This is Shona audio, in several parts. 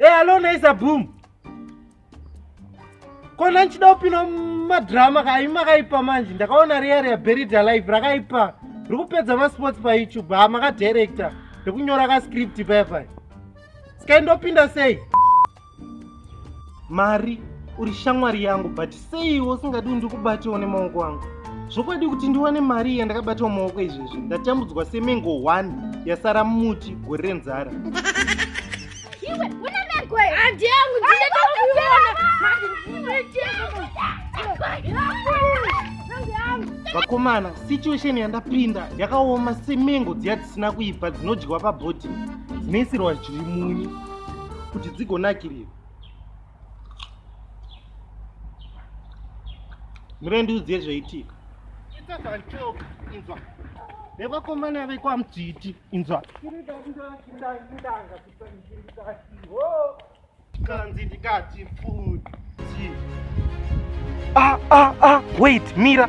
Hey, eh, hello Naiza Boom. Kona nchida upino madrama ka ima kaipa manje. Ndakaona real ya buried alive rakaipa. Rikupedza ma sports pa YouTube. Ha maka director. Ndikunyora ka script paya paya. Sky ndopinda sei? Mari, uri shamwari yangu but seiwo usingadi kuti ndikubatewo nemaoko angu. Zvokwadi kuti ndiwane mari iya ndakabatawo maoko izvezvi. Ndatambudzwa semengo 1 yasara muti gore renzara. Iwe, una mengo here? Handi yangu, ndine vakomana situation yandapinda yakaoma semengo dziya dzisina kuibva dzinodyiwa pabhodhi dzinoisirwa zviri munyu kuti dzigonakirira mure ndiudziye zvaitika itazanchoka inzwa nevakomana vekwamdzviti inzwa kanzi ndikati futi ah, ah, ah, wait mira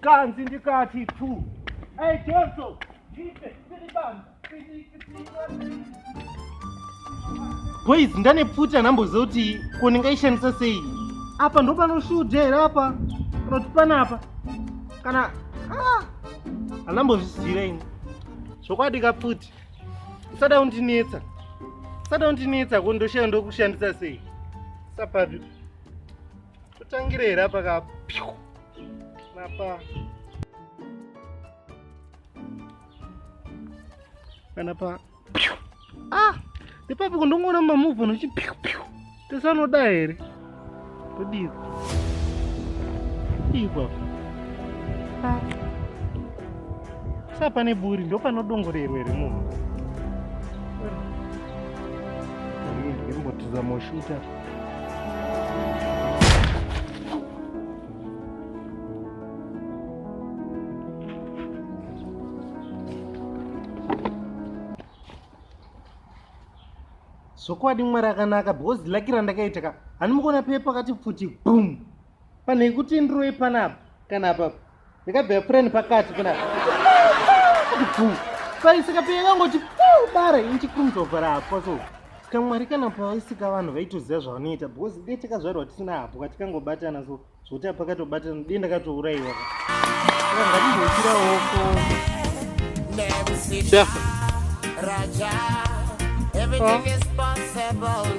kanzi ndikati tu ei joso ipe siribanga boys ndane pfuti anamboziva kuti ko ndingaishandisa sei apa ndopanoshuja here apa panoti panapa kana anambozviziva ah, ini zvokwadi kapfuti usada kundinetsa usada kundinetsa ko ndoshaya ndokushandisa sei sapapi totangire here apa ka napa kana pa ah ipapo kundongoona mamuva nochi piu piu tese anoda here todii ipapo ah. sa pane buri ndo panodongorerwa here munhu ndimbotiza moshuta zvokwadi mwari akanaka because laki randakaita ka handimukuona pepa kati pfuti bum panhekuti ndiroye panapa kana apapa ndikabvira pureni pakati kuna paisika piya kangoti bara inchikumzovhara hapwa so ska mwari kana paisika vanhu vaitoziva zvavanoita because dei takazvarwa tisina hapwa tikangobatana so zvokuti apakatobatana dei ndakatourayiwa Raja, everything is possible.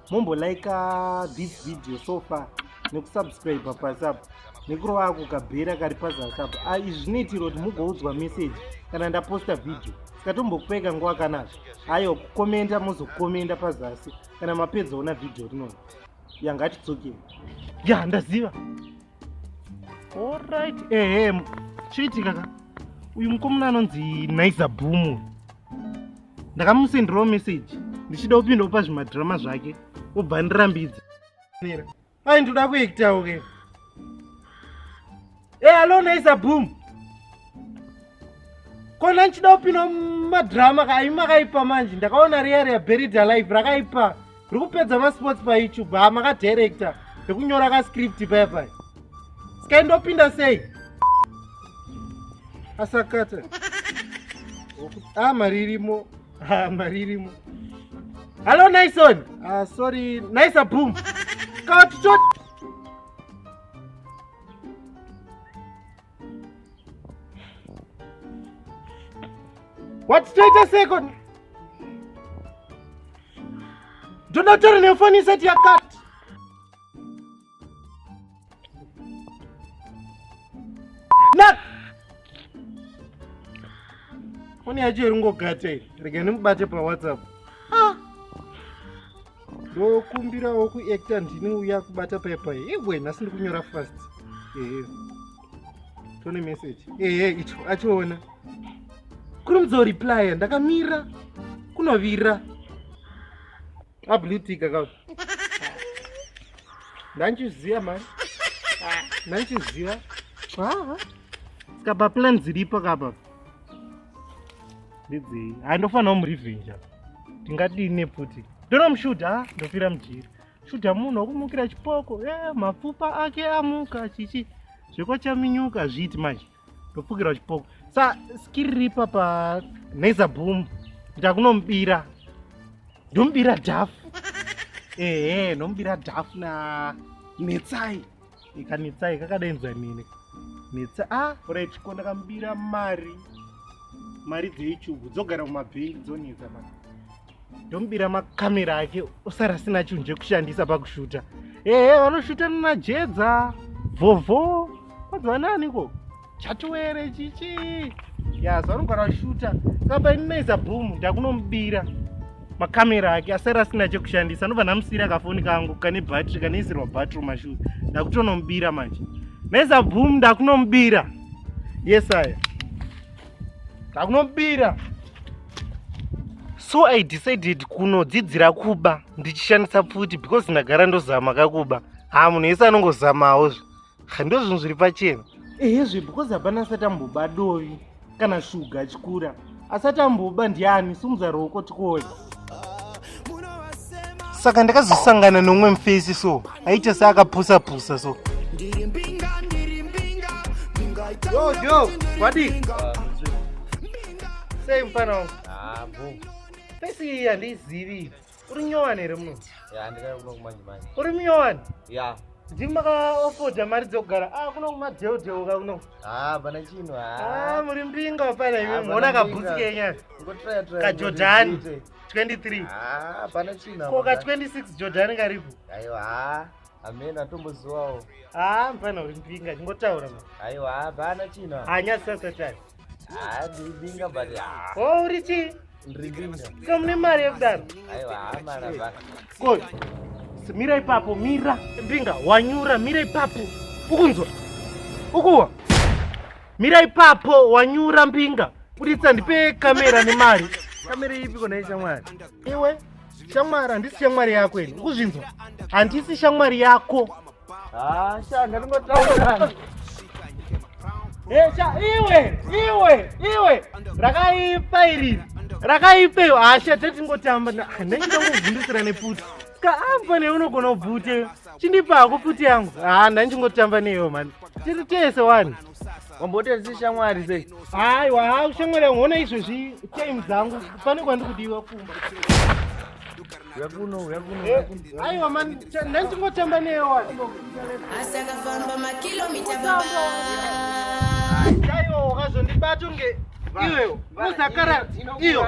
mumbo like uh, this video so far nekusubscribe pasi apo nekurova ako kabhera kari pazasi apo ah, izvi zvinoitira kuti mugoudzwa message kana ndaposta video sikatombokupeka nguva kanazvo aiwa kukomenda mozokomenda pazasi kana mapedza ona video rinoi yangatidzoke ya ndaziva Alright, ehe, eh, chiitika ka? Uyu mukomana anonzi Naiza Boom. Ndakamusenderawo message ndichida kupinda kupa zvimadrama zvake obva andirambidza. Ai ndoda kuektawo ke. Eh, hey, hello Naiza Boom. kona nchida kupinda mumadrama kaimi makaipa manje ndakaona riya riya buried alive rakaipa ri kupedza masports payoutube ha makadirector rekunyora kascript paya paya sky ndopinda sei asakata a ah, mari irimo ah, mari irimo hallo nison ah, sorry nisa boom kawatichot What wait a second. Do not turn your phone inside your car. foni yacho iri ngogate rega ndimubate pawhatsapp ndokumbirawo kuacta ndini uya kubata pepa ewe nhasi ndikunyora fast ehe tone message ehe icho achiona kuri mudzoriplya ndakamira kunovira ablutika ka ndanchiziva mani ndanchiziva haa skapa plan dziripo kapa ndidzei handofanira kumurevenge apa ndingadii nepfuti ndonomushuta ah, ndofira mujiri shuta munhu wakumukira chipoko e eh, mapfupa ake amuka chichi zvekwachaminyuka zviiti manje ndopfukirwa chipoko sa skiri ripa pa naiza boom kuita kunomubira ndomubira dhafu ehe ndomubira dhafu na netsai ikanetsai kakadainzwa nini netsa a ah, rechiko ndakamubira mari mari dzeichugu dzogara mumabhengi dzonetsa ma ndomubira makamera ake osara asina chinhu chekushandisa pakushuta ehe vanoshuta nanajedza vhovho kwanzi vananiko chatuwere chichi yazvanogara shuta saba inonaiza boom ndakunomubira makamera ake asara asina chekushandisa anobva ndamusiyira kafoni kangu kane battery kanoisirwa battery mashoes ndakutonomubira manje naiza boom ndakunomubira yesaya ndakunomubira so i decided kunodzidzira kuba ndichishandisa pfuti because ndagara ndozama kakuba haa munhu yese anongozamawo zve handozvinhu zviri pachena ehe zve because hapana asati amboba dovi kana shuga achikura asati amboba ndiani sumudza roko tikoya saka ndakazosangana nomwe mufesi so aita seakapusa pusa so sei mfana wangu ah, fesi iyi handiizivi Uri nyowani here muno? Ya, ndikauya kuno kumanje manje. Uri nyowani? Ya. Ndimi makaofoda mari dzekugara. Ah, kuno kumadheu dheu ka kuno. Ah, bana chino. Ah, ah muri mbinga pala imi. Ah, Muona kabhutsi kenyana. Ngotraya traya. Ka Jordan. 23. Ah, bana chino. Ko ka 26 Jordan karipo. Aiwa. Ah. Amen atomboziwawo. Ah, mfana uri mbinga. Ngotaura. Aiwa, bana chino. Anyasa satani. Ah, ndibinga but ah. Oh, uri chii? Ndiri binga. So mune mari yekudaro? Aiwa, hama na baka. Koi. Mira ipapo, mira. Mbinga, wanyura, mira ipapo. Ukunzwa? Ukuwa? Mira ipapo, wanyura mbinga. Buditsa ndipe kamera nemari. Kamera ipi kona ishamwari? Iwe? shamwari handisi shamwari yako ini ukuzvinzwa handisi shamwari yako esha iwe iwe iwe rakaipa iri rakaipa iyo hasha tetingotamba hanenge ndanguvhundisira neputi ska ambo ne unogona ubvute chindipa hako puti yangu ha ndanchingotamba neyo mani tiri tese wani wamboteeresi shamwari sei haiwa ha ushamwari yangu ona izvezvi time dzangu pane kwandikudiwa kumba aiwa mani ndandingotamba neyewa asi akafamba makilomita baba aiwa wakazondibata unge iwewo usakara iyo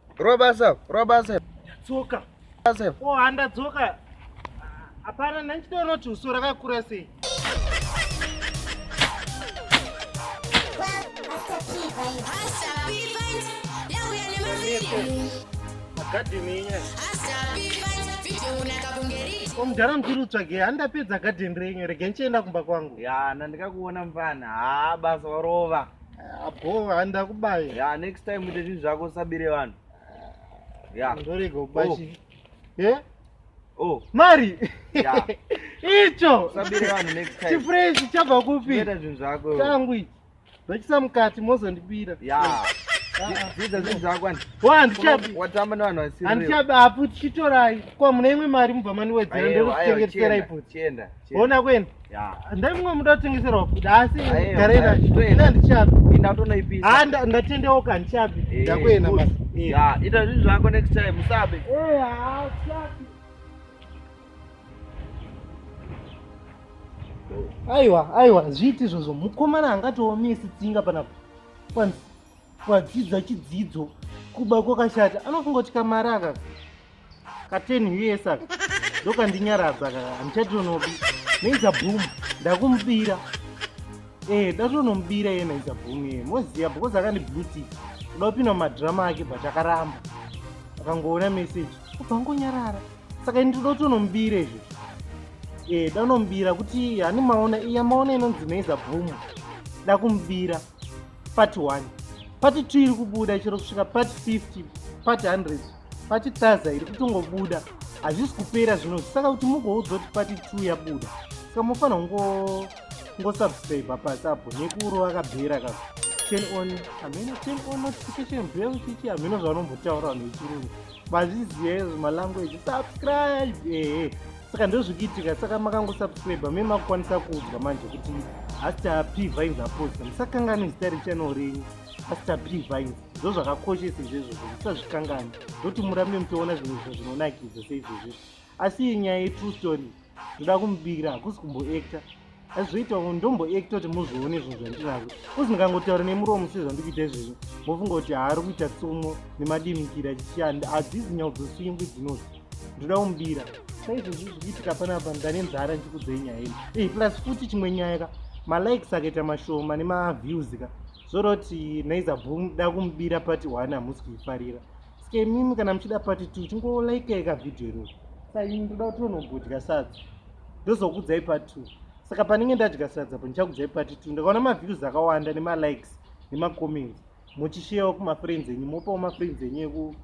Robasa, robasa. Tsoka. Robasa. Oh, handa tsoka. Hapana, ndandichiona kuti uso rakakura sei. omudhara mukuru tsvage handapedza gadheni renyu rege ndichienda kumba kwangu ya nandikakuona mvana haa basa warova Abo handa kubaye. Yeah, next time ite zvinhu zvako usabire vanhu. Yeah. Ndorega kubashi. Oh. Eh? Oh. Mari. Yeah. Icho. Usabire vanhu next time. Chifresh chabva kupi? Ita zvinhu zvako. Tangu ichi. Ndachisa mukati mozondibira. Yeah. Zvidza zvinhu zvako ani. Wa ndichabi. Watamba nevanhu vasiri. Andichabi apo tichitorai. Kwa mune imwe mari mubva maniwedzera ndokutengetsera ipo. Chienda. Ona kwenda. ndai mumwe muda kutengeserwa futi asi garera ina ndichabiindatondoipisa ah, ndatendeuka ndichabi eh, ndakuenda basi ita zvinhu zvako next time musabe eh, aiwa aiwa zviiti izvozvo mukomana angatoomesi tsinga panapa kwanzi kwadzidza chidzidzo kuba kwakashata anofunga kuti kamari akaka kateni uye saka ndokandinyaradza kaka handichatonobi naiza boom ndakumubira ee eh, ndatonomubira iye naiza boom iye moziva because akandibluti kuda kupinda mumadhirama ake but akaramba akangoona meseji kubva ngonyarara saka ini toda kutonomubira izvo ee eh, danomubira kuti hani maona iya maona inonzi naiza boom dakumubira part one part two iri kubuda chero kusvika part 50 part 100 pati plaza iri kutongobuda hazvisi kupera zvino saka kuti mugoudzwa kuti pati two yabuda saka mofanira kungo ngosubscribe pasi apo nekuuro akabhera ka ten on hameno ten on notification bhera kuchichi hameno zvavanombotaura vanhu vechirungu mazviziva izvo malanguage subscribe ehe saka ndozvikuitika saka makangosubscribe me makukwanisa kuudzwa manje kuti hasta p vines aposta musakanganwe zita rechannel renyu hasta p vines ndo zvakakoshesa izvezvo zvekusazvikangani ndoti murambe muchiona zvimwe zvinhu zvinonakidza seizvezvi asi iyi nyaya yetrue story ndoda kumubikira hakusi kumboacta azvizoita ndomboacta kuti muzvione zvinhu zvandinazvo kuzi ndikangotaura nemuromo sezvandikuita izvezvi mofunga kuti haari kuita tsumo nemadimikira chichiyanda hadzizi nyau dzoswingwi dzinozi ndoda kumubira saizvezvi zvikuitika panapa ndane nzara ndikudzei nyaya ino plus futi chimwe nyaya ka malikes akaita mashoma nemaviews ka zvoroti naiza boom da kumubira pati one hamusi kuifarira ske mimi kana muchida pati two chingolaikei ka vhidhiyo iroro sa ini ndoda kuti tonobudya sadza ndozokudzai pati two saka panenge ndadya sadza po ndichakudzai pati two ndakaona maviews akawanda nemalikes nemacomments muchisheyawo kumafriends enyu mopawo mafriends enyu eku